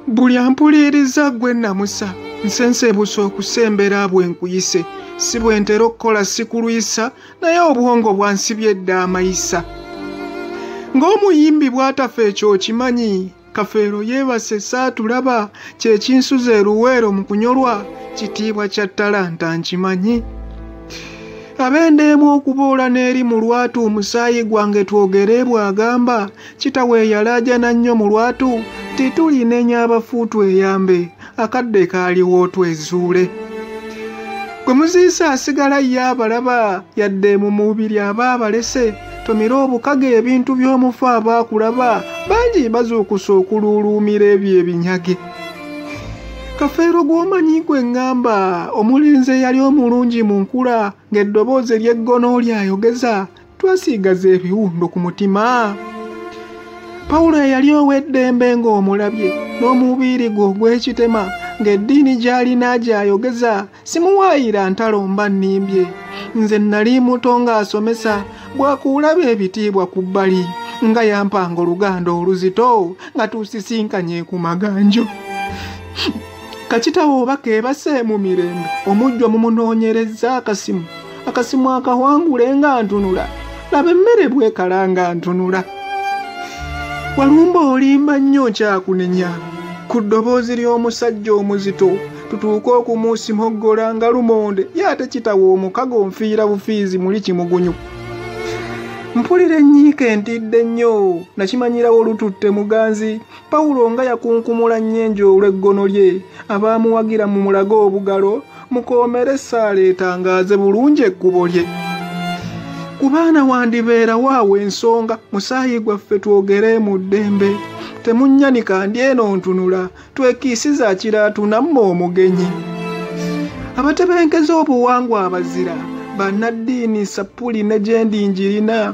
buli ampuliiriza gwe namusa nsenseebusa okusembera bwe nkuyise si bwe ntera okukola sikulwisa naye obwongo bwansibye edda amayisa ng'omuyimbi bw'atafa ekyo okimanyi kafeero yeebase saatulaba kyekinsuza eruweero mu kunyolwa kitiibwa kya talanta nkimanyi abendeemu okuboola n'eri mu lwatu omusaayi gwange twogereebwa agamba kitawe yalaajana nnyo mu lwatu titulinenya abafu tweyambe akadde kaaliwo twezuule gwe muziisa asigala ye abalaba yadde mu mubiri aba abalese tomira obukaga ebintu by'omufu aba akulaba bangi bazuukusa okuluuluumira ebyo ebinyage kafeero gw'omanyi gwe ŋŋamba omulenzi eyali omulungi mu nkula ng'eddoboozi ery'eggono lyayogeza twasiigaza ebiwundo ku mutima pawulo eyali ow'eddembe ng'omulabye n'omubiiri gwe ogw'ekitema ng'eddiini gy'alina gy'ayogeza simuwaayira ntalo mba nnimbye nze nnali muto ng'asomesa bwakuulaba ebitiibwa ku bbali nga yampanga oluganda oluzito nga tusisinkanye ku maganjo kakitawo oba keebase mu mirembe omujjwa mumunoonyerezza akasimu akasimu akawangule nga ntunula laba emmere bwekala nga ntunula walumba olimba nnyo kyakunenya ku ddoboozi ly'omusajja omuzito tutuuke okumusimoggola nga lumonde ye ate kitawa omukago nfiira bufiizi muli kimugunyu mpulira ennyiika entidde nnyo nakimanyirawo lututte muganzi pawulo nga yakunkumula nnyenje olw'eggono lye abaamuwagira mu mulago obugalo mukoomere essaala etangaaze bulungi ekkubo lye ku baana wandibeerawo awo ensonga musaayi gwaffe twogere mu ddembe temunnyanika ndi eno ntunula twekiisiza akiraatunamu omugenyi abatebenkeza obuwangwa abazira bannaddiini sappuli ne gyendi njirina